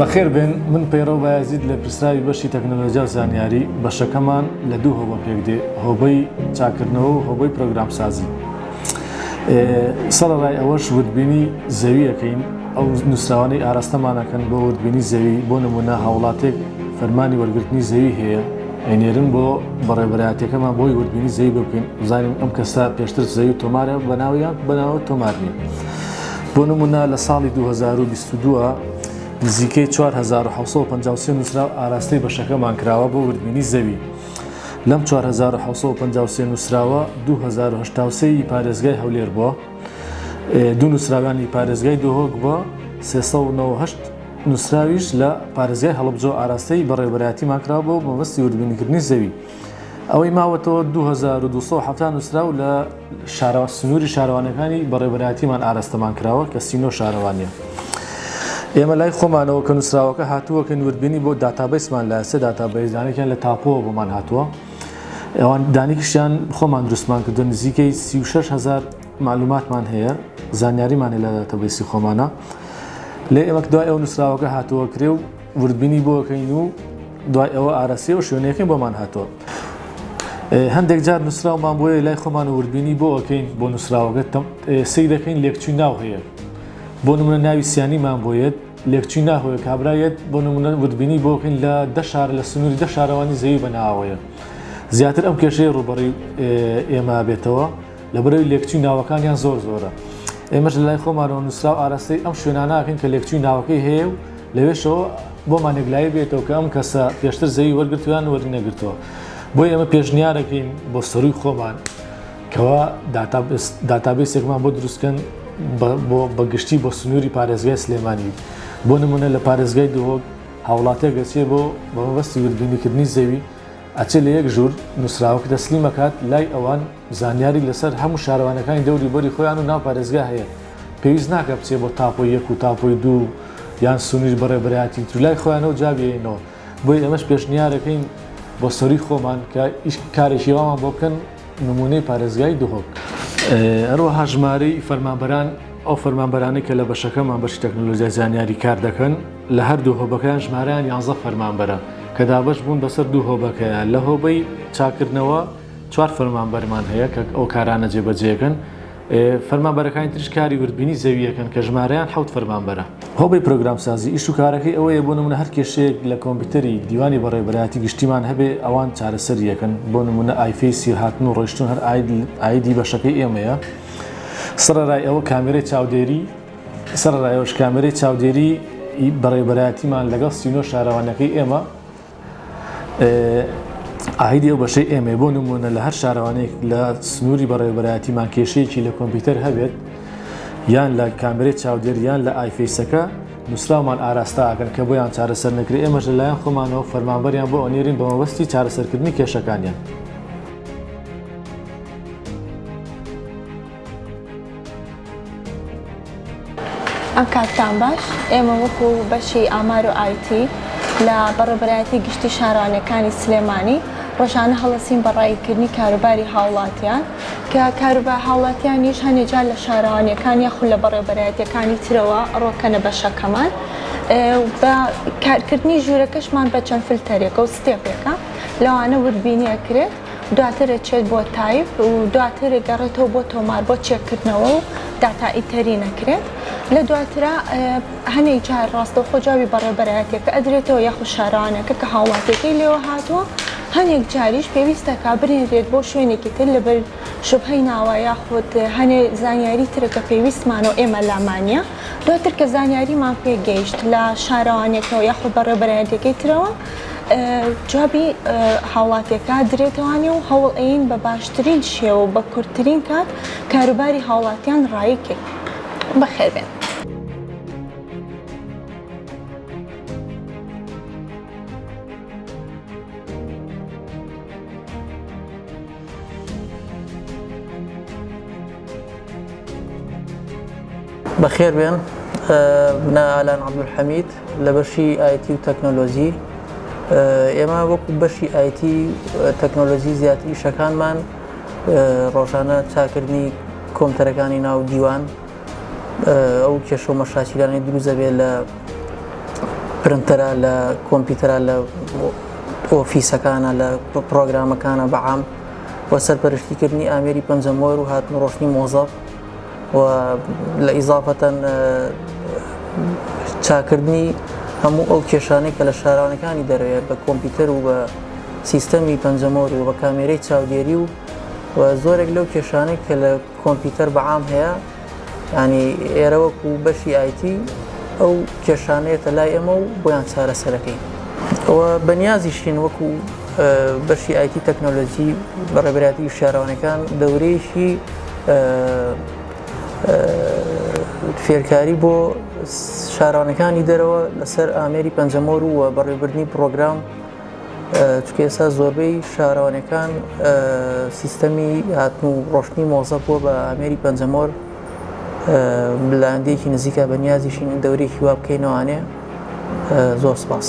بەخێر بێن من پەیڕە و بایزید لە پرسراوی بەشی تەکنەلۆجیا و زانیاری بەشەکەمان لە دوو هۆبە پێک دێ هۆبەی چاکردنەوە و هۆبەی پرۆگرام سازی سەرڕای ئەوەش وردبینی زەویەکەین ئەو نووسراوانەی ئاراستەمانەکەن بۆ وردبینی زەوی بۆ نمونە هاوڵاتێک فەرمانی وەرگرتنی زەوی هەیە ئەینێرن بۆ بەڕێبەرایەتەکەمان بۆی وردبینی زەوی بکەین بزانین ئەم کەسە پێشتر زەوی تۆمارە بەناویان بەناوە تۆمار نیە بۆ نمونە لە ساڵی 2022 نزیکەی 1950 نووسرا ئاراستەی بەشەکەمان کراوە بۆ وردبینی زەوی لەم 1950 نووسراوە 2023 پارێزگای هەولێر بووە دوو نووسراوانی پارێزگای دۆهۆک بووە 398 نوسراویش لە پارێزگای هەڵەبجە و ئاراستەی بەڕێوەبەرایەتیمان کراوە بۆ مەبەستی وردبینیکردنی زەوی ئەوەی ماوەتەوە دوو هەزار و دوو سەد و حەفتا نوسراو لە شارەوە سنوری شارەوانیەکانی بەڕێوەبەرایەتیمان ئاراستەمان کراوە کە سی نۆ شارەوانیە ئێمە لای خۆمانەوە کە نوسراوەکە هاتووە کە وردبینی بۆ داتابەیسمان لە سێ داتابەیس دانێکیان لە تاپۆوە بۆمان هاتووە ئەوان دانیکشیان خۆمان دروستمان کردوە نزیکەی سی و شەش هەزار مەعلوماتمان هەیە زانیاریمان هەیە لە داتابەیسی خۆمانا لێ ئێمە کە دوای ئەو نووسراوەکە هاتووە کرێ و وردبینی بۆ بکەین و دوای ئەوە ئارەسیە و شوێنەکەی بۆمان هاتووە هەندێک جار نووسراومان بۆیە لای خۆمان و وردبینی بۆ ئەکەین بۆ نووسراوەگە سەی دەکەین لێکچووی ناو هەیە بۆ نمونە ناوی سیانیمان بۆیەت لێکچووی ناهۆیە کابراەت بۆ نمونە وردبینی بۆکەین لە دەشار لە سنووری دە شارەوانی زەوی بەناوەیە زیاتر ئەم کێشەیە ڕوبەڕی ئێمە بێتەوە لەبەرئەوەی لێکچووی ناوەکانیان زۆر زۆرە. ئێمەش لەلای خۆمانەوە نووسراو ئاراستەی ئەم شوێنانەکەین کە لێکچووی ناوەکەی هەیە و لەوێشەوە بۆمان یەکلایی بێتەوە کە ئەم کەسە پێشتر زەوی وەرگرتووەیان وەرینەگرتووە. بۆیە ئێمە پێشنیارەکەین بۆ سەرووی خۆمان کەوا داتابەیسێکمان بۆ دروستکەن بە گشتی بۆ سنووری پارێزگای سلێمانی. بۆ نموونە لە پارێزگای دهۆک هاوڵاتییەک دەچێت بۆ بە مەبەستی وردبینیکردنی زەوی ئەچێت لە یەک ژوور نووسراوەکە تەسلیم ئەکات لای ئەوان، زانیاری لەسەر هەموو شارەوانەکانی دەوری بەری خۆیان و ناو پارێزگا هەیە، پێویست ناکات بچێت بۆ تاپۆی یەک و تاپۆی دوو و یان سونیر بە ڕێبەرایەتی تر لای خۆیانەوە جواب یەینەوە، بۆیە ئێمەش پێشنیارەکەین بۆ سەرووی خۆمان کە ئیش کارێکی وامان بۆ بکەن. نموونەی پارێزگای دهۆک. هەروەها ژمارەی فەرمانبەران، ئەو فەرمانبەرانەی کە لە بەشەکەمان، بەشی تەکنەلۆجیای زانیاری کار دەکەن، لە هەردوو هۆبەکەیان ژمارەیان یانزە فەرمانبەرە کە دابەش بوون بەسەر دوو هۆبەکەیە. لە هۆبەی چاککردنەوە چوار فەرمانبەرمان هەیە کە ئەو کارانە جێبەجێ دەکەن. فەرمانبەرەکانی ترش کاری وردبینی زەوییەکەن کە ژمارەیان حەوت فەرمانبەرە. هۆبەی پرۆگرامسازی ئیش و کارەکەی ئەوەیە بۆ نموونە هەر کێشەیەک لە کۆمپیوتەری دیوانی بەڕێوەبەرایەتی گشتیمان هەبێ ئەوان چارەسەری ئەکەن بۆ نموونە ئایفێسی هاتن و ڕۆیشتن هەر ئایدی بەشەکەی ئێمەیە سەڕەرای ئەوە کامێرەی چاودێری سەڕەرای ئەوەش کامێرەی چاودێری ی بەڕێوەبەرایەتیمان لەگەڵ سی و نۆ شارەوانیەکەی ئێمە ئایدی ئەو بەشەی ئێمەی بۆ نمونە لە هەر شارەوانێک لە سنووری بەڕێوبەرایەتیمان کێشەیەکی لە کۆمپیوتەر هەبێت یان لە کامرێت چاودێر یان لە ئایفیسەکە نووسراومان ئاراستاکەن کە بۆیان چارەسەر نەکرێ ئێمەش لەلایەن خۆمانەوە فەرمانبەریان بۆ ئەنێرین بە مەبەستی چارەسەرکردنی کێشەکانیان. ئەم کاتتان باش ئێمە وەکو بەشی ئامار و ئایتی لە بەڕێبەرایەتی گشتی شارانەکانی سلێمانی ڕۆژانە هەڵەسین بە ڕاییکردنی کاروباری هاوڵاتیان کە کاروبا هاوڵاتیانیش هەنێ جار لە شارەوانیەکان یاخود لە بەڕێبەرایەتەکانی ترەوە ڕۆکەنە بەشەکەمان بە کارکردنی ژوورەکەشمان بە چەند فلتەرێکە و ستێپێکە لەوانە وردبینیەکرێت دواتر ئەچێت بۆ تایپ و دواتر ئەگەڕێتەوە بۆ تۆمار بۆ چێککردنەوە و داتا ئیتەری نەکرێت لە دواترا هەنێک جار ڕاستەوخۆ جوابی بەڕێبەرایەتەکە ئەدرێتەوە یاخود شارەوانەکە کە هاوڵاتیەکەی لێوە هاتووە هەنێک جاریش پێویستە کا برێنرێت بۆ شوێنێکی تر لەبەر شوبهەی ناوە یاخود هەنێ زانیاری ترەکە پێویستمانەوە ئێمە لامانە دواتر کە زانیاریمان پێگەیشت لە شارەوانێکەوە یاخود بەڕێبەرایەتەکەی ترەوە جوابی هاوڵاتیەکە درێتوانێ و هەوڵ ئەین بە باشترین شێوە بە کورتترین کات کاروباری هاوڵاتیان ڕایی کرد بەخێبێن. بەخێربێن بنا ئالان عبدول حەمید لە بەشی ئایتی و تەکنۆلۆژی ئێمە وەکو بەشی ئایتی تەکنۆلۆژی زیاتر ئیشەکانمان ڕۆژانە چاکردنی کۆمپیوتەرەکانی ناو دیوان ئەو کێشە و مەشاکیلانەی دروست دەبێت لە پرنتەرە لە کۆمپیوتەرە لە ئۆفیسەکانە لە پرۆگرامەکانە بەعام و سەرپەرشتیکردنی ئامێری پەنجەمۆر و هاتن ڕۆشنی مۆزەف و لە ئیزافەتەن چاکردنی هەموو ئەو کێشانەی کە لە شارانەکانی دەروێت بە کۆمپیوتەر و بە سیستەمی پەنجەمۆر و بە کامێرەی چاودێری و زۆرێک لەو کێشانەی کە لە کۆمپیوتەر بە عام هەیە ینی ئێرە وەکو بەشی ئایتی ئەو کێشانێتە لای ئێمە و بۆیان چارەسەرەکەی ئەوە بەنیازیشین وەکو بەشی ئایتی تەکنۆلۆژی بەڕێبراتی شارەوانەکان دەورەیەکی فێرکاری بۆ شارانەکانی دەرەوە لەسەر ئامێری پەنجەمۆر ووە بەڕێبردننی پرۆگرام چونکە ئێستا زۆربەی شارەوانیەکان سیستەمی هاتن و ڕۆشتنی مۆزە بووە بە ئامێری پەنجەمۆر بلاندێکی نزیکە بە نیازیشین دەورێکی وا بکەینەوانێ زۆر سپاس.